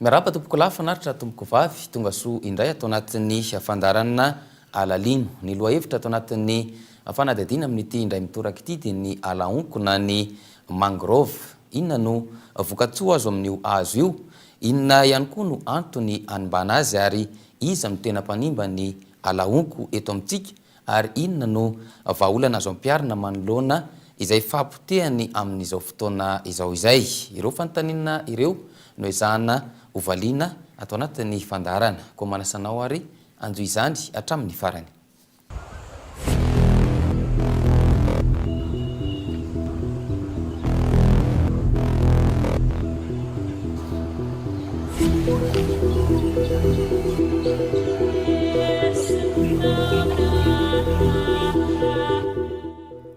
Miarahaba tompoko lahy fanaritra tompoko vavy tonga soa indray ato anatin'ny fandaharanana alalino. Ny lohahevitra ato anatin'ny fanadihadiana amin'ity indray mitoraka ity dia ny alaonko na ny mangrove. Inona no vokatsoa azo amin'io hazo io? Inona ihany koa no antony hanimbana azy ary iza no tena mpanimba ny ala honko eto amintsika ary inona no vahaolana azo ampiharina manoloana izay fahapotehany amin'izao fotoana izao izay? Ireo fanontaniana ireo no ezahana hovaliana ato anatin'ny fandaharana. Koa manasa anao ary hanjo izany hatramin'ny farany.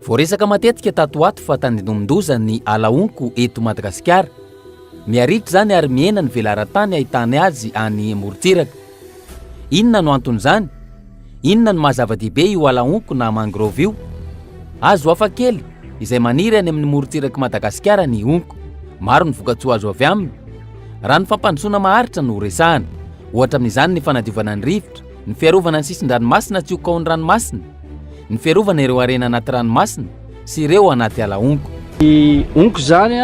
Voaresaka matetika tato ho ato fa tandindomin-doza ny ala honko eto Madagasikara. Miharihitra izany ary mihena ny velaran-tany ahitany azy any morontsiraka. Inona no anton'izany? Inona no maha zava-dehibe io ala honko na mangrove io? Hazo hafa kely izay maniry any amin'ny morontsirak'i Madagasikara ny honko. Maro ny vokatsoa azo avy aminy. Raha ny fampandrosoana maharitra no resahana, ohatra amin'izany ny fanadiovana ny rivotra, ny fiarovana ny sisin-dranomasina tsy ho kaon'ny ranomasina, ny fiarovana ireo harena anaty ranomasina, sy ireo anaty ala honko. Ny honko izany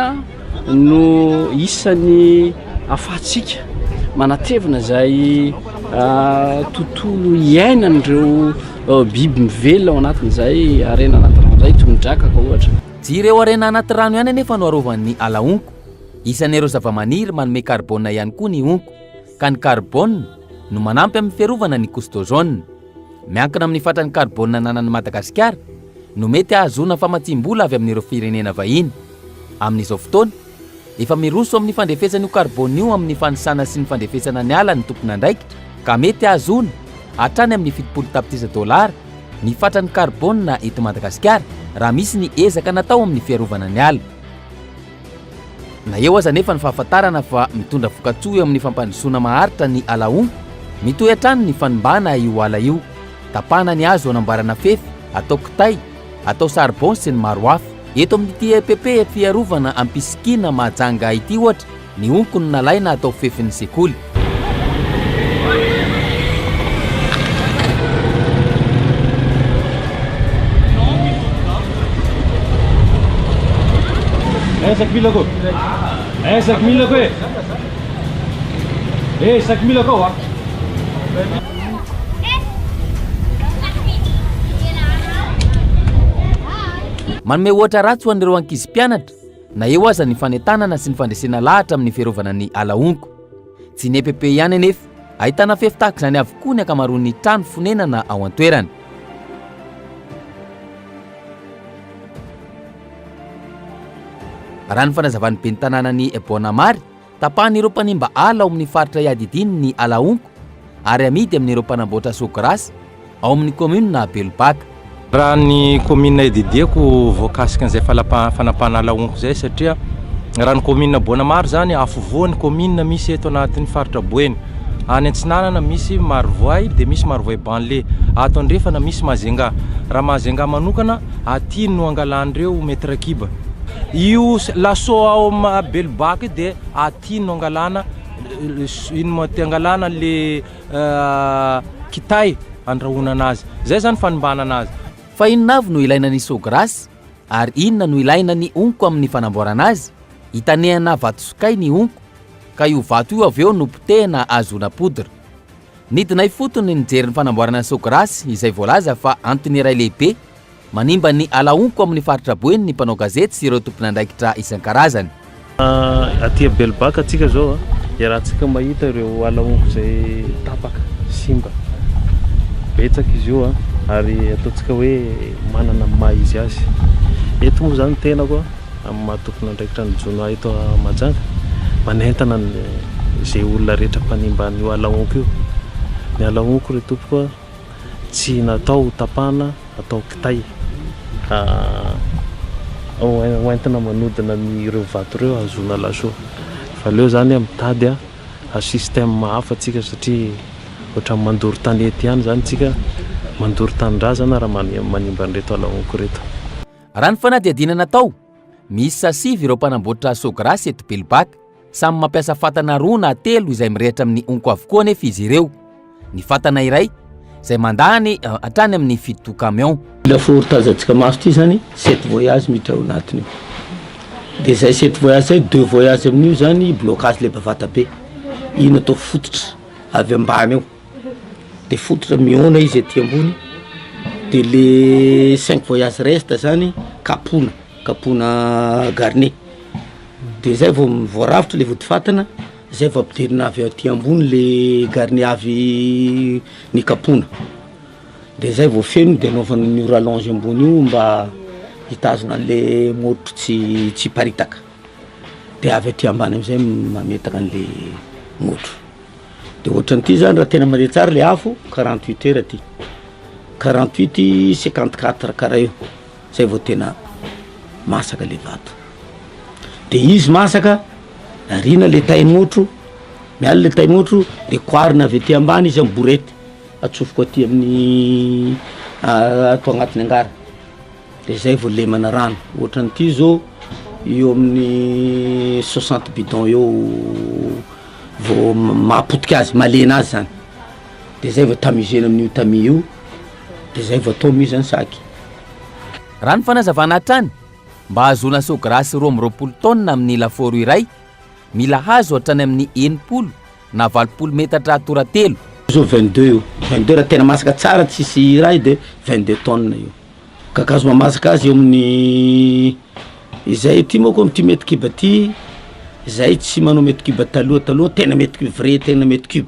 no isan'ny ahafahantsika manatevina izay tontolo iainan'ireo biby mivelona ao anatin'izay harena anaty rano izay, toy ny drakaka ohatra. Tsy ireo harena anaty rano ihany anefa no arovan'ny ala honko. Isan'ireo zavamaniry manome karbôna ihany koa ny honko, ka ny karbôna no manampy amin'ny fiarovana ny couche d'ozone. Miankina amin'ny fatran'ny karbôna ananan'i Madagasikara no mety hahazoana famatsiam-bola avy amin'ireo firenena vahiny. Amin'izao fotoana, efa miroso amin'ny fandrefesana io karbôna io amin'ny fanisana sy ny fandrefesana ny ala ny tompon'andraikitra ka mety hahazoana hatrany amin'ny fitopolo tapitrisa dolara ny fatran'ny karbôna eto Madagasikara raha misy ny ezaka natao amin'ny fiarovana ny ala. Na eo aza anefa ny fahafantarana fa mitondra vokatsoa eo amin'ny fampandrosoana maharitra ny Alahou, mitohy hatrany ny fanimbàna io ala io. Tapahana ny hazo hanamboarana fefy, atao kitay, atao charbon sy ny maro hafa. Eto amin'ity epp fiarovana ampisikina Mahajanga ity ohatra, ny honko no nalaina hatao fefin'ny sekoly. Ezek Milako. Ezek Milako. Ezek Milako. Manome ohatra ratsy ho an'ireo ankizy mpianatra Na eo aza ny fanentanana sy ny fandresena lahatra amin'ny fiarovana ny ala honko. Tsy ny EPP ihany anefa, ahitana fefy tahaka izany avokoa ny ankamaroan'ny trano fonenana ao an-toerana. Raha ny fanazavan'ny ben'ny tanànan'i Boanamary, Tapahan'ireo mpanimba ala ao amin'ny faritra iadidiany ny ala honko ary amidy amin'ireo mpanamboatra soa grass ao amin'ny kaominina Belobaka. Raha ny kaominina iadidiako voakasika an'izay fanampahana ala honko izay satria raha ny kaominina Boana Maro izany, afovoan'ny kaominina misy eto anatin'ny faritra Boeny. Any antsinanana misy Marovoay dia misy Marovoay Banlé. Ato andrefana misy Majunga. Raha Majunga manokana, aty no angalan'ireo metre kiba. Io laso ao amin'ny Belobaka io dia aty no angalana ino moa ty? Angalana le kitay andrahoana anazy. Zay zany fanimbana anazy. Fa inona avy no ilaina ny saut grasse? Ary inona no ilaina ny honko amin'ny fanamboarana azy? Itanehana vato sokay ny honko, ka io vato io avy eo no potehina ahazoana poudre. Nidina ifotony nijery ny fanamboarana saut grasse izay voalaza fa antony iray lehibe. Manimba ny ala honko amin'ny faritra Boeny ny mpanao gazety sy ireo tompon'andraikitra isan-karazany. Aty Abelbaka atsika zao a, iarahantsika mahita ireo ala honko izay tapaka, simba. Betsaka izy io a, ary ataontsika hoe manana ny maha izy azy. Eto moa zany ny tenako a, amin'ny maha tompon'andraikitra ny jono ahy eto Mahajanga, manentana ny ze olona rehetra mpanimba an'io ala honko io. Ny ala honko re tompoko a. Tsy natao ho tapahana atao kitay hoentina manodina an'ireo vato ireo hahazoana laso. Fa aleo izany mitady système hafa isika satria ohatran'ny mandoro tanety ihany izany isika, mandoro tanindrazana raha manimba an'ireto ala honko ireto. Raha ny fanadihadiana natao, miisa sivy ireo mpanamboatra Sogras eto Belbaka. Samy mampiasa fatana roa na telo izay mirehitra amin'ny honko avokoa anefa izy ireo. Ny fatana iray izay mandany eh, hatrany amin'ny fito camion. Lafaoro tazantsika maso ity zany sept voyage miditra ao anatiny ao. Dia zay sept voyage zay, deux voyage amin'io zany blocage leba vata be. Iny atao fototra avy ambany ao. Dia fototra mihaona izy aty ambony. Dia le cinq voyage reste zany kapohina, kapohina garnie. Dia zay vao voarafitra le vodifatina, zay vao ampidirina avy aty ambony le garni avy nikapoana, de zay vao feno de anaovana an'io rallonge ambony io mba hitazona an'le motro tsy tsy hiparitaka, de avy aty ambany am'zay mametaka an'le motro, de ohatran'ity zany raha tena mare tsara le afo quarante huit heures ty, quarante huit cinquante quatre karaha io. zay vao tena masaka le vato de izy masaka ariana le tain'otro miala le tain'otro de koarina avy aty ambany izy am borety atsofoko aty amin'ny ato agnatiny angara de zay vao lemana rano ohatran' ity zao eo amin'ny soixante bidon eo vao maha potika azy malena azy zany de zay vao tamizena amin'io tamis io de zay vao atao mi zany sac. Raha ny fanazavana hatrany, mba hahazoana saut grace roa amby roapolo tonnes amin'ny lafaoro iray, mila hazo hatrany amin'ny enimpolo na valopolo metatra atora telo. Zao vingt deux io, vingt deux raha tena masaka tsara tsisy raha io de vingt deux tonnes io. Kakazo mamasaka azy eo amin'ny izay, ty manko amin'ity mètre cube ty, zay tsy manao mètre cube taloha taloha tena mètre cube vrai tena mètre cube.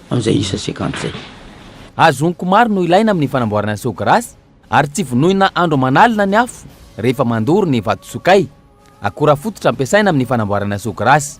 amin'izay isa sekond izay. Hazo honko maro no ilaina amin'ny fanamboarana seau grace ary tsy vonoina andro aman'alina ny afo rehefa mandoro ny vatosokay. Akora fototra ampiasaina amin'ny fanamboarana seau grace.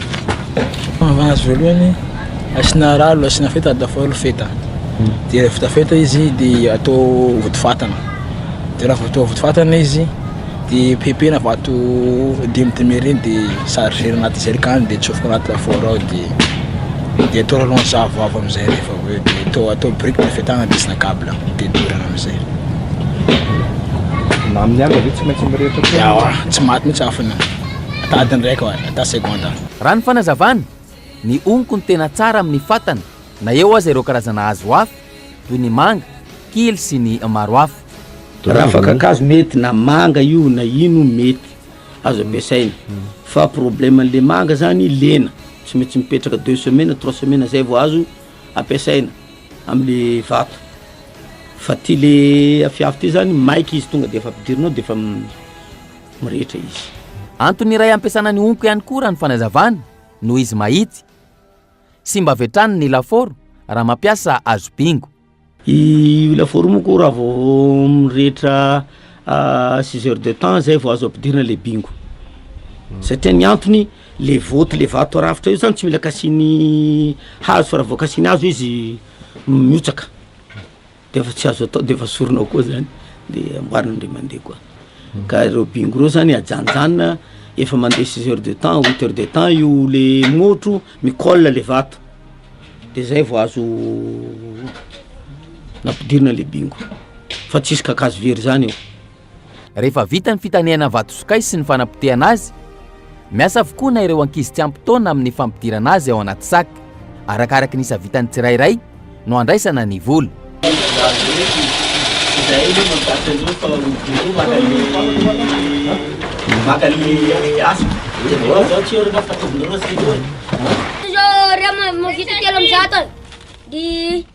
Fanavahana azy voalohany, asiana ralo, asiana feta ady lafaoro feta. Hmm. Dia vita feta izy dia atao votofatana. Dia raha atao votofatana izy dia pepena vato dimy dimy ireny dia charger anaty jerikany dia atsofoka anaty lafaoro ao dia dia atao rano zavo avy amin'izay rehefa avy eo dia atao atao brique ny fetana dia asiana câble dia dorana amin'izay. Na amin'ny andro ve tsy maintsy mirehitra koa? Tsy maty mihitsy afona. Ata adiny iraika ohatra, ata segondra. Raha ny fanazavana, ny honko no tena tsara amin'ny fatana na eo aza ireo karazana hazo hafa toy ny manga, kily sy ny maro hafa. Ravaka kakazo mety na manga io na ino mety azo ampiasaina fa problème an'le manga zany lena tsy maintsy mipetraka deux semaines trois semaines zay vao azo ampiasaina amle vato fa ty le afiafy ty zany maika izy tonga de efa ampidirinao de efa mirehitra izy. Antony iray ampiasana ny honko ihany koa raha ny fanazavana, noho izy mahitsy. Simba avy hatrany ny lafaoro raha mampiasa hazo bingo. Io lafaoro io moa koa raha vao mirehitra six heures de temps zay vao azo ampidirina le bingo. Satria ny antony, le vaoty le vato rafitra io zany tsy mila kasian'ny hazo fa raha vao kasian'ny hazo izy mihotsaka. Dia efa tsy azo atao dia efa sorona ao koa zany dia amboarina indray mandeha koa. Ka ireo bingo ireo zany ajanjanina efa mandeha six heures de temps huit heures de temps io le motro mi-colle le vato de zay vao azo nampidirina le bingo fa tsisy kakazo very zany eo. Rehefa vita ny fitanehana ny vatosokay sy ny fanapotehana azy, miasa avokoa na ireo ankizy tsy ampy taona amin'ny fampidirana azy ao anaty sac. Arakaraka ny isa vitan'ny tsirairay no andraisana ny vola.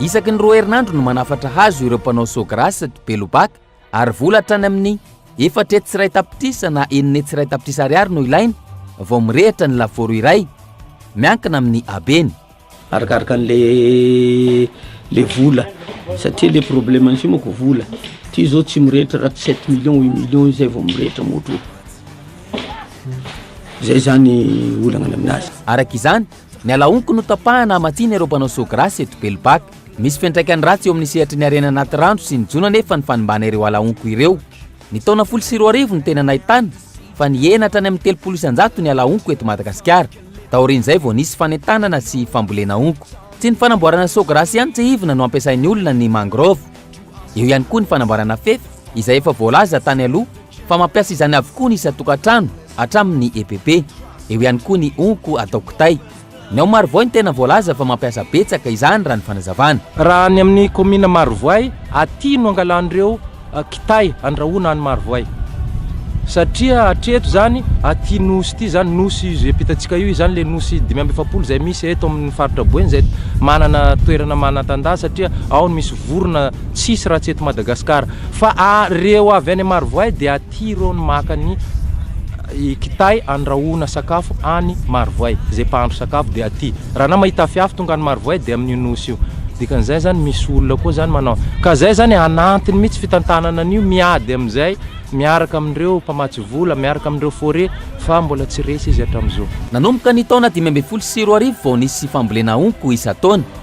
Isaky ny roa herinandro no manafatra hazo ireo mpanao saut grace ato Belobac ary vola hatrany amin'ny efatra hetsy sy iray tapitrisa na enina hetsy sy iray tapitrisa ariary no ilaina vao mirehitra ny lafaoro iray, miankina amin'ny habeny. Arakaraka an'ilay ilay vola satria ilay problème-ny f'io manko vola, ity izao tsy mirehitra raha tsy sept millions, huit millions izay vao mirehitra moto, izay izany olana any amin'azy. Araka izany, Ny alaonko no tapahana hamatsiana ireo mpanao soa grace eto Belbaka. Misy fiantraikany ratsy eo amin'ny sehatry ny harena anaty rano sy ny jono anefa ny fanimbana ireo alaonko ireo. Ny taona folo sy roa arivo no tena nahitana fa nihena hatrany amin'ny telopolo isan-jato ny alaonko eto Madagasikara. Taorian'izay vao nisy fanentanana sy fambolena onko. Tsy ny fanamboarana soa grace ihany tsihivina no ampiasain'ny olona ny mangrove. Eo ihany koa ny fanamboarana fefy izay efa voalaza tany aloha fa mampiasa izany avokoa ny isan-tokantrano hatramin'ny EPP. Eo ihany koa ny honko atao kitay. Ny ao Marovoay no tena voalaza fa mampiasa betsaka izany raha ny fanazavana. Raha ny amin'ny kaominina Marovoay, aty no angalan'ireo kitay andrahoina any Marovoay. Satria hatreto izany, aty Nosy ity izany, Nosy izay ampitantsika io izany ilay Nosy dimy amby efapolo izay misy eto amin'ny faritra Boeny izay manana toerana manan-tandà satria ao no misy vorona tsisy raha tsy eto Madagasikara. Fa ireo avy any Marovoay dia aty ireo no maka ny kitay andrahoana sakafo any Marovoay, izay mpahandro sakafo dia aty. Raha anao mahita afiafy tonga any Marovoay dia amin'io Nosy io. Dikan'izay zany misy olona koa zany manao ka zay zany anantiny mitsy fitantanana an'io miady amin'izay miaraka amin'ireo mpamatsy vola miaraka amin'ireo fore fa mbola tsy resy izy hatram'izao. Nanomboka ny taona dimy ambin'ny folo sy roa arivo vao nisy fambolena honko isan-taona.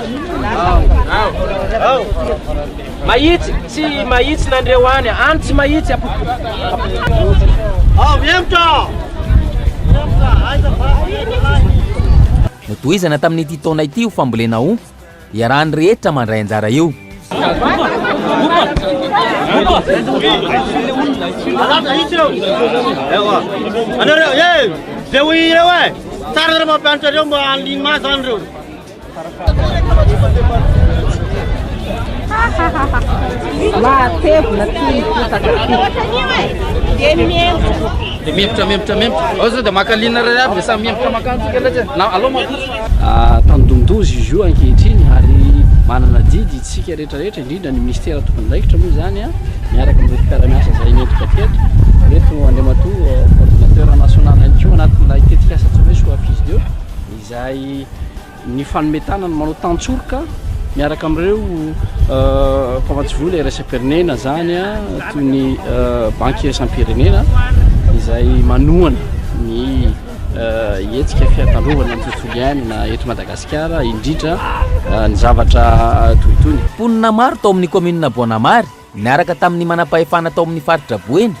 Mahitsy tsy mahitsy nandreo any, any tsy mahitsy apotika. Ao mihemotra! Notohizana tamin'ity taona ity io fambolena ho iarahan'ny rehetra mandray anjara io. Anareo, eh! Zay ho ireo eh! Tsara ireo mampianatra ireo mba haniliany maso any ireo. Mahatevina ty ny potaka Dia mihemotra. Dia mihemotra, mihemotra, mihemotra. Ao zao dia maka lina iray aby dia samy mihemotra makantsika ilay na alao makotsy. Ah, tandindozy izy io ankehitriny ary manana didy isika rehetra rehetra indrindra ny ministera tompondaikitra moa izany a ah, miaraka amin'ireo mpiara-miasa izay nentika teto eto Andriamatoa coordinateur national ihany koa anatin'ilay tetikasa tsy maintsy ho affiche izay nifanome tanana manao tantsoroka miaraka amin'ireo mpamantsivola iraisam-pirenena izany toy ny banky iraisam-pirenena izay manohana ny hetsika fiatandrovana ny tontolo iainana eto Madagasikara indrindra ny zavatra toy itony. Mponina maro tao amin'ny kaominina Boanamary niaraka tamin'ny manam-pahefana tao amin'ny faritra Boeny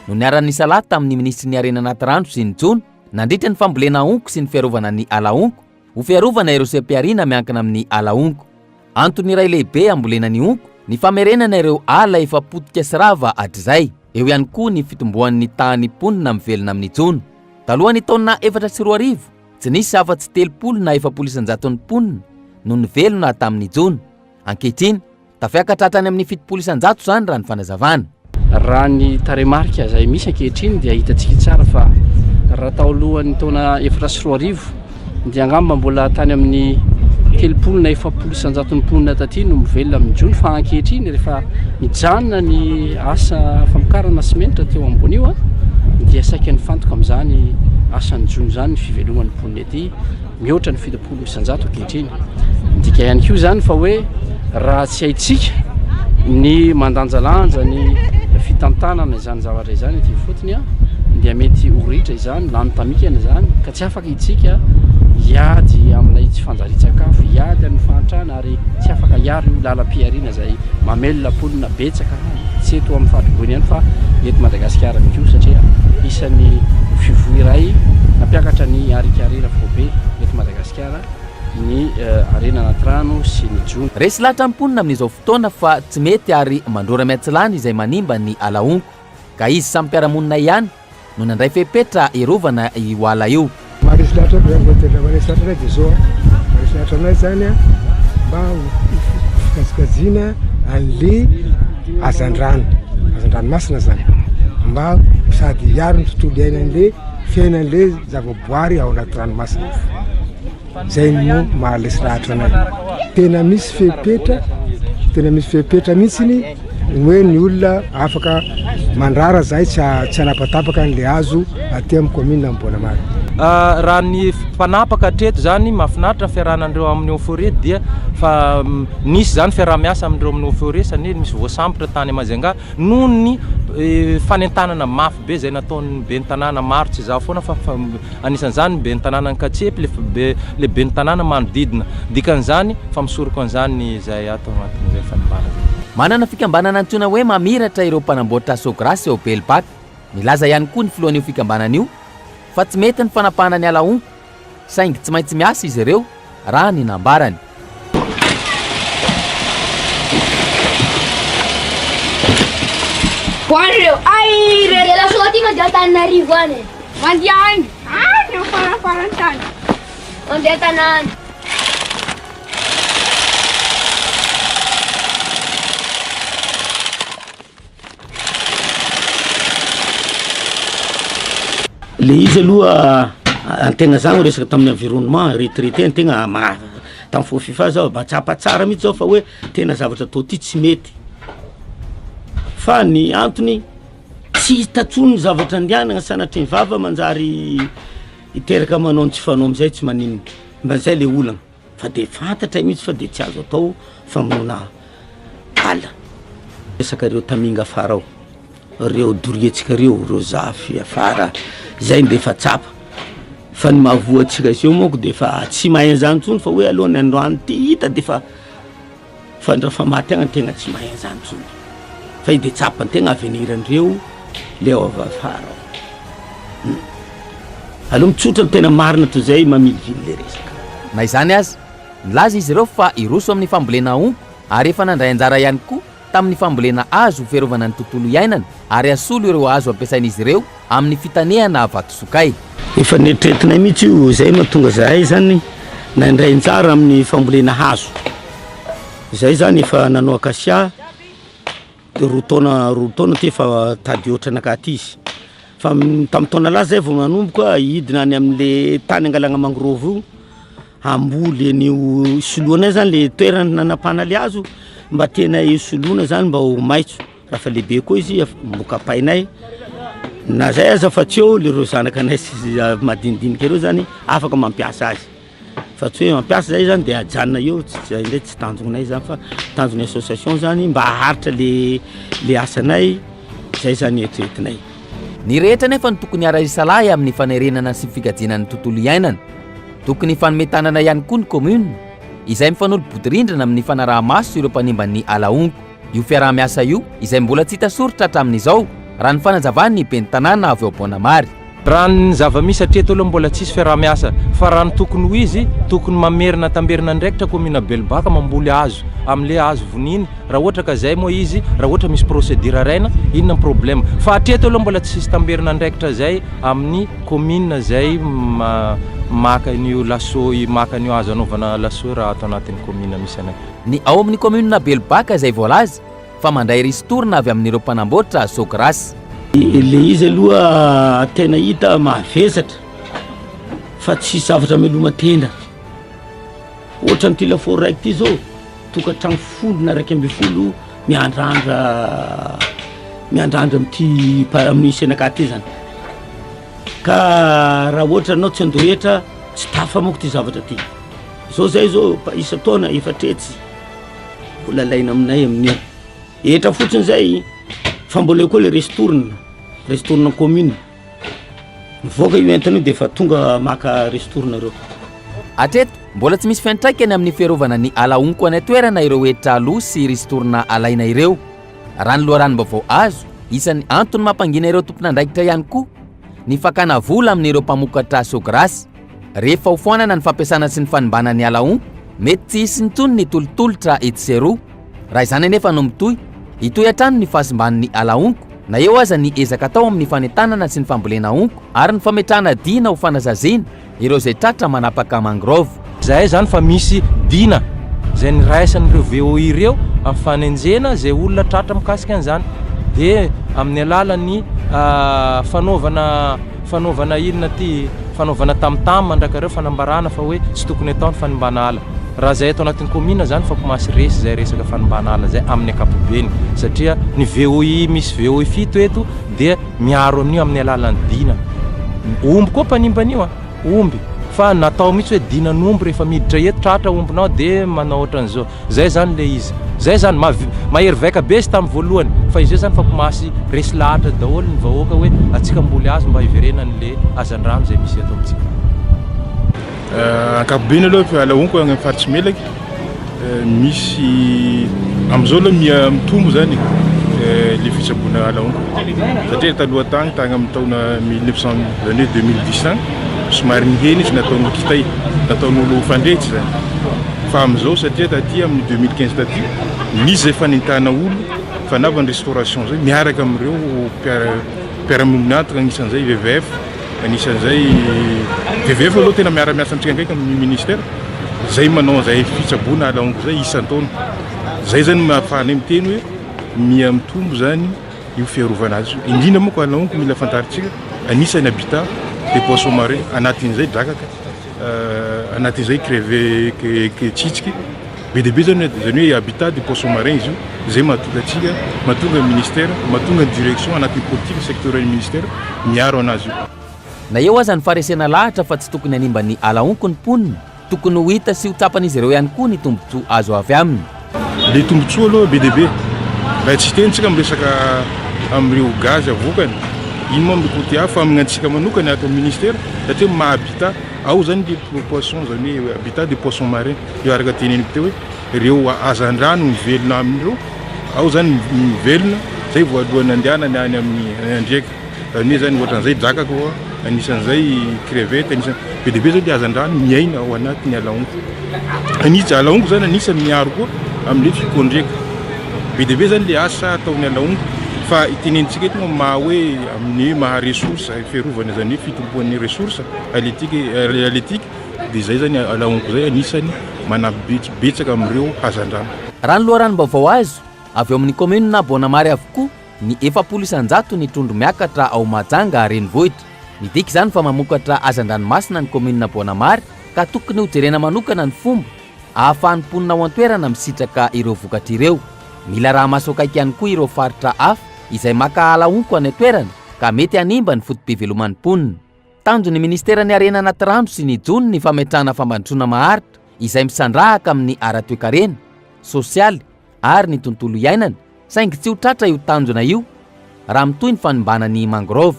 no niara-nisalahy tamin'ny minisitry ny harena anaty rano sy ny jono Nandritra ny fambolena honko sy ny fiarovana ny ala honko, ho fiarovana ireo seha-pihariana miankina amin'ny ala honko. Antony iray lehibe hambolena ny honko ny famerenana ireo ala efa potika sy rava hatrizay. Eo ihany koa ny fitomboan'ny tahan'ny mponina mivelona amin'ny jono. Talohan'ny taona efatra sy roa arivo, tsy nisy afa-tsy telopolo na efapolo isan-jaton'ny mponina no nivelona tamin'ny jono. Ankehitriny, Tafiakatra hatrany amin'ny fitopolo isan-jato izany raha ny fanazavana. Raha ny tarehimarika izay misy ankehitriny dia hitantsika tsara fa raha tao alohan'ny taona efatra sy roa arivo dia angamba mbola tany amin'ny telopolo na efapolo isan-jaton'ny mponina taty no mivelona amin'ny jono fa ankehitriny rehefa mijanona ny asa famokarana simenitra teo ambony io dia saika nifantoka amin'izany asan'ny jono izany ny fiveloman'ny mponina ety Mihoatra ny fitopolo isan-jato ankehitriny. Midika ihany koa izany fa hoe raha tsy haintsika ny mandanjalanja ny fitantanana izany zavatra izany ety ifotony dia mety ho ritra izany, lany tamikana izany ka tsy afaka itsika hiady amin'ilay tsy fanjarian-tsakafo, hiady amin'ny fahantrana ary tsy afaka hiaro io lalam-pihariana izay mamelona mponina betsaka. tsy eto amin'ny faritr-boina ihany fa eto Madagasikara ihany koa satria isan'ny fivoy iray nampiakatra ny harinkarena foibe eto Madagasikara ny harena anaty rano sy ny jono. Resy lahatra ny mponina amin'izao fotoana fa tsy mety ary mandrora miatsilany izay manimba ny ala honko ka izy samy mpiara-monina ihany no nandray fepetra hiarovana io ala io. Maharesy lahatra anay izany, raha maharesy lahatra anay dia izao, maharesy lahatra anay izany mba hofikajiana an'le hazandrano, hazandranomasina izany, mba sady hiaro ny tontolo iainan'le fiainan'le zavaboary ao anaty ranomasina, izay no maharesy lahatra anay, tena misy fepetra, tena misy fepetra mihitsiny. Hoe ny olona afaka mandrara zahay tsy tsy hanapatapaka an'ilay hazo aty amin'ny commune Amboanamaro. Raha ny mpanapaka hatreto izany, mahafinaritra ny fiarahana an'ireo amin'ny eau forêt dia fa nisy izany fiaraha-miasa amin'ireo amin'ny eau forêt satria nisy voasambotra tany Majunga noho ny fanentanana mafy be izay nataon'ny ben'ny tanàna maro tsy izaho foana fa Anisan'izany ny ben'ny tanànan'Ankatsempo, le be le ben'ny tanàna manodidina. Dikan'izany fa misoroko an'izany ny izay ato agnatin'izay fanimbàna izay. Manana fikambanana antsoina hoe Mamiratra ireo mpanamboatra Sôgrasy ao Belbata. Nilaza ihany koa ny filohan'io fikambanana io fa tsy mety ny fanapahana ny ala honko saingy tsy maintsy miasa izy ireo raha ny nambarany. Ho an'ireo air. Dia lasa aty mandeha Antananarivo any e. Mandeha any. Any amin'ny farafaran'ny tany. Mandeha tanàna. Le izy aloha antegna zany resaka tamin'ny environnement retraite antegna ma- tam fo fifa zao mba tsapa tsara mitsy zao fa hoe tena zavatra atao ty tsy mety fa ny antony tsy hita tsony ny zavatra andianagna sanatria ny vava manjary hiteraka manao ny tsy fanao amizay tsy maninona mba zay le olana. Fa dia fantatray mihitsy fa dia tsy azo atao famonoana ala. Resaka reo taminga afara ao, reo doriantsika reo, reo zafy afara zay dia efa tsapa. Fa ny mahavoa antsika eo manko dia efa tsy mahay an'izany intsony fa hoe aloha ny androany ity hita dia efa Fa ndra fa maty agny tegna tsy mahay an'izany tsony fa i de tsapantegna avenir ndreo le ao afara ao hum aleo mitsotra ny tena marina toy zay mamilivily le resaka. Na izany aza, nilaza izy ireo fa hiroso amin'ny fambolena ompa ary efa nandray anjara ihany koa tamin'ny fambolena hazo ho fiarovana ny tontolo iainana ary hasolo ireo hazo ampiasain'izy ireo Amin'ny fitanehana vatosokay. Efa neritreretinay mihitsy io, izay mahatonga izahay izany nandray anjara amin'ny fambolena hazo. Izahay izany efa nanao akasia roa taona roa taona aty efa tady ohatra naka aty izy. Fa tamin'ny taona lasa izahay vao nanomboka hidina any amin'ilay tany hangalana mangrove io hamboly an'io hisoloanay izany ilay toerana nanapahana ilay hazo mba tianay hisoloana izany mba ho maitso. Efa lehibe koa izy, efa mamoaka ampainay. Na izay aza fa tsy eo ireo zanakanay sy madinidinika ireo izany afaka mampiasa azy. Fa tsy hoe mampiasa izay izany dia ajanona eo, izay indray tsy tanjonay izany fa tanjon'ny association izany mba haharitra ilay asanay, izay izany no eritreretinay. Ny rehetra anefa no tokony hiara-hisalahy amin'ny fanerena sy fikajiana ny tontolo iainana. Tokony hifanome tanana ihany koa ny commune, izay mifanolo-bodirindrina amin'ny fanaraha-maso ireo mpanimba ny ala honko. io fiaraha-miasa io izay mbola tsy hita soritra hatramin'izao, raha ny fanazavan'ny ben'ny tanàna avy ao Boanamary. Raha ny zava-misy hatreto aloha mbola tsisy fiaraha-miasa fa raha ny tokony ho izy, tokony mamerina tamberina andraikitra kaominina Belobaka mamboly hazo amin'ilay hazo voniny raha ohatra ka izay moa izy, raha ohatra misy procédure araina, inona ny problème? Fa hatreto aloha mbola tsisy tamberina andraikitra izay amin'ny kaominina izay maka an'io laso, maka an'io hazo hanaovana laso io raha ato anatin'ny kaominina misy anay. Ny ao amin'ny kaominina Belobaka izay voalaza fa mandray ristourne avy amin'ireo mpanamboatra Sogras. Ilay izy aloha tena hita mahavesatra fa tsy zavatra ameloma-tena. Ohatra an'ity lafaoro raiky ity izao, tokantrano folo na iraika ambin'ny folo miandrandra miandrandra amin'ity mpa- amin'io senaka ity izany. Ka raha ohatra ianao tsy handoa hetra, tsy tafamoaka ity zavatra ity. Zao zay zao efa isan-taona efatretsy mbola alaina aminay amin'io hetra fotsiny zay fa mbola eo koa le restourne restourne commune mivoaka io entana io de efa tonga maka restourne reo Hatreto, mbola tsy misy fiantraikany amin'ny fiarovana ny ala honko any an-toerana ireo hetra aloa sy ristourne alaina ireo. Raha ny loharanom-baovao azo, isan'ny antony mampangina ireo tompon'andraikitra ihany koa ny fakana vola amin'ireo mpamokatra sôgrasy. Rehefa hofoanana ny fampiasana sy ny fanimbana ny ala ompa, mety tsy hisy intsony ny tolotolotra etsy sy eroa. Raha izany anefa no mitohy, hitohy hatrany ny fahasimban'ny ala honko, na eo aza ny ezaka atao amin'ny fanentanana sy ny fambolena honko ary ny fametrahana dina ho fanazaziana ireo izay tratra manapaka mangrove. Izay izany fa misy dina izay niraisan'ireo VOA ireo amin'ny fanenjena izay olona tratra mikasika an'izany, dia amin'ny alalan'ny fanaovana. Fanaovana inona ity? Fanaovana tam tam mandrakareo fanambarana fa hoe tsy tokony atao ny fanimbana ala. Raha izay ato anatin'ny kaominina izany fa komasy resy izay resaka fanimbana ala izay amin'ny ankapobeny satria ny VOI misy VOI fito eto dia miaro an'io amin'ny alalan'ny dina omby koa mpanimba an'io an! Omby fa natao mihitsy hoe dinan'omby rehefa miditra eto tratra ombinao dia manao ohatran'izao. Zay zany le izy. Zay zany. Mavi, mahery vaika be izy tam voalohany. Fa izay zany fa komasy resy lahatra daholo ny vahoaka hoe atsika mboly azo mba hiverenany le hazandrano zay misy eto amitsika. Ankapobeny aloha fa la honko agny faritsy melaky misy amizao aloha miha mitombo zany le fitsaboana la honko satria taloha tagny tagny aminy taona mille neuf cent les annees deux mille dix agny somary nihena izy nataonolo kitay nataonolo fandrehitra zany. Fa amin'izao satria taty amin'ny deux mille quinze taty nisy izay fanentanana olona fanava ny restauration izay miaraka amin'ireo mpiara-mionona antoko anisan'izay WWF, anisan'izay WWF aloha tena miara-miasa mifandraika amin'ny ministera izay manao izay fitsaboana ala hongo izay isan-taona. Izay izany no mahafahanay miteny hoe miha mitombo izany io fiarovana azy io. Indrindra moa ka ala hongo mila fantarintsika anisan'ny habitat des poissons marins anatin'izay drakaka. Anaty izay creveque tsitsiky be dia be izany hoe izany hoe habitat du poisson marin izy io izay mahatonga antsika mahatonga ny ministera mahatonga ny direction anatin'ny politique sectorielle ministera miaro anazy io. Na eo aza ny faharesena lahatra fa tsy tokony hanimba ny ala honko ny mponina, tokony ho hita sy ho tsapan'izy ireo ihany koa ny tombontsoa azo avy aminy. Le tombotsoa aloha be dia be. Raha tsy hiteny tsika miresaka amin'ireo gaz avoakany, iny moa mikoty hafa amin'ny antsika manokana ato amin'ny ministera satria ny maha habitat ao zany le poisson zany hoe habitat de poisson marin io araka teneniko teo hoe ireo hazandrano mivelona amin'ireo ao zany mivelona zay vao alohan'ny andehanany any amin'ny andriaka. Anie zany ohatran'izay drakaka oa, anisan'izay crevette, anisan, be dia be zany le hazandrano miaina ao anatin'ny alaongo. Anisa, alaongo zany anisan'ny miaro koa amin'le fikondriaka. Be dia be zany le asa ataon'ny alaongo. Fa itenenintsika eto moa maha hoe amin'ny hoe maha ressource, fiarovana izany hoe fitompoan'ny ressource halieutique, halieutique, dia izay zany alaongo izay anisan'ny manampy bets, betsaka amin'ireo hazandrano. Raha ny loharanom-baovao azo avy ao amin'ny kaominina Boanamary avokoa, ny efapolo isan-jato ny trondro miakatra ao Mahajanga renivohitra. Midika izany fa mamokatra hazan-dranomasina ny kaominina Boanamary ka tokony ho jerena manokana ny fomba ahafahan'ny mponina ao an-toerana misitraka ireo vokatra ireo. Mila arahamaso akaiky ihany koa ireo faritra hafa izay maka ala honko any an-toerana ka mety hanimba ny foto-piveloman'ny mponina. Tanjon'ny Ministeran'ny Harena Anaty Rano sy ny Jono ny fametrahana fampandrosoana maharitra izay misandrahaka amin'ny ara-toekarena, sosialy ary ny tontolo iainana saingy tsy ho tratra io tanjona io raha mitohy ny fanimbana ny mangrove.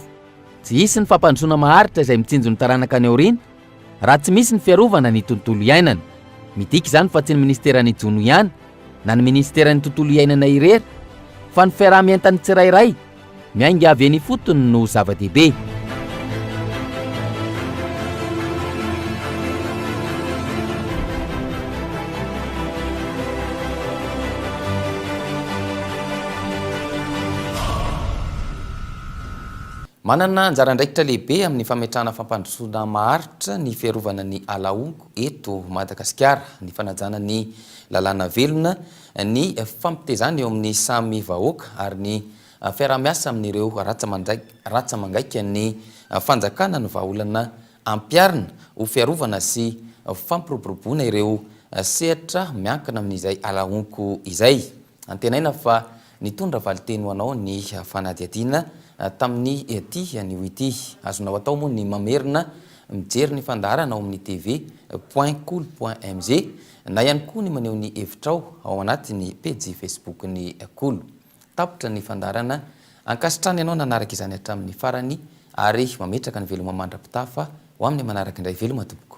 Tsy hisy ny fampandrosoana maharitra izay mitsinjo ny taranaka any aoriana raha tsy misy ny fiarovana ny tontolo iainana. Midika izany fa tsy ny Ministeran'ny Jono ihany na ny Ministeran'ny Tontolo Iainana irery fa ny fiaraha-mientan'ny tsirairay Miainga avy eny ifotony no zava-dehibe. Manana anjara andraikitra lehibe amin'ny fametrahana fampandrosoana maharitra ny fiarovana ny ala honko eto Madagasikara ny fanajana ny lalàna velona ny fifampitezana eo amin'ny samy vahoaka ary ny fiaraha-miasa amin'ireo ratsa-mangaikan'ny fanjakana ny vahaolana ampiharina ho fiarovana sy fampiroboroboana ireo sehatra miankina amin'izay ala honko izay. Antenaina fa nitondra valinteny ho anao ny fanadihadiana tamin'ity anio ity. Azonao atao moa ny mamerina mijery ny fandaharana ao amin'ny TV. Point Kolo. Mg. Na ihany koa ny maneho ny hevitrao ao anatin'ny pejy Facebook-n'ny Kolo. Tapitra ny fandaharana. Ankasitrahana ianao nanaraka izany hatramin'ny farany ary mametraka ny veloma mandra-pitafa ho amin'ny manaraka indray veloma tompoko.